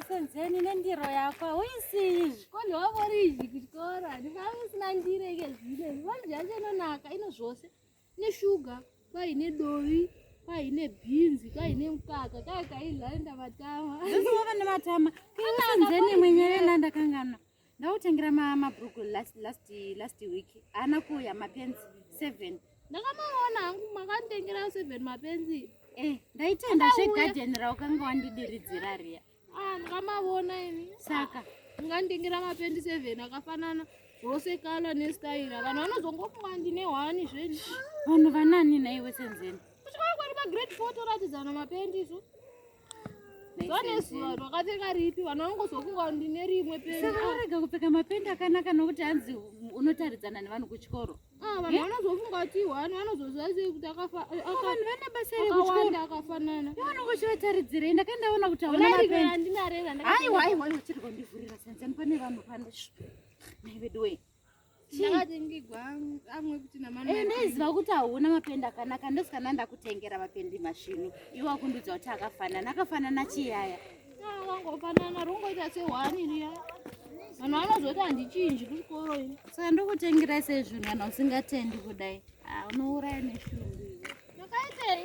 senzeni nendiro yakwa uisizvi ko ndiwavoriji kuchikora ndikanga usina ndiro ike zvino zvivanhu zvacho inonaka ino zvose ine shuga kwaine dovi kwaine bhinzi kwaine mukaka kaya kaidla enda matama ava nematama senzeni mwenyerena ndakangana Ndautengera ma mabruku last last last week. Ana kuya mapenzi 7. Ndakamaona hangu makandengera 7 mapenzi. Eh, ndaitenda zve garden raukanga wandidiridzira riya. Ah, ndakamaona ini. Saka ungandengera mapenzi 7 akafanana zvose kala ne style. Vanhu vanozongofunga ndine hwani zveni. Vanhu vanani naiwe senzeni? Kuchikora kwari pa grade 4 toratidzana mapenzi izvo. vanezuva rwakapfeka ripi vana vangozokunga ndine rimwe pearega ah. kupfeka mapendi akanaka nokuti hanzi unotaridzana nevanhu kuchikoro ah, vanhu eh? vanozofunga kuti wani vanozozivazei kuti akafanhu ah, vane basa rekuchikoro akafanana vanongochivataridzirei ndakandaona kuti aunaaaiwa aiwa chiri kwandivhurira sanzani pane vanhu pano naiveduwei ndaiziva eh, kuti hauna mapendi akanaka ndosikana ndakutengera mapendi mashinu iwe akundudza kuti akafanana akafanana chiyaya wangofanana rungoita sehwani riya vanhu vanozoti handichinji kuchikoro ini saka ndokutengerai sezvinhu kana usingatendi kudai ah, unouraya neshungu ndakaitei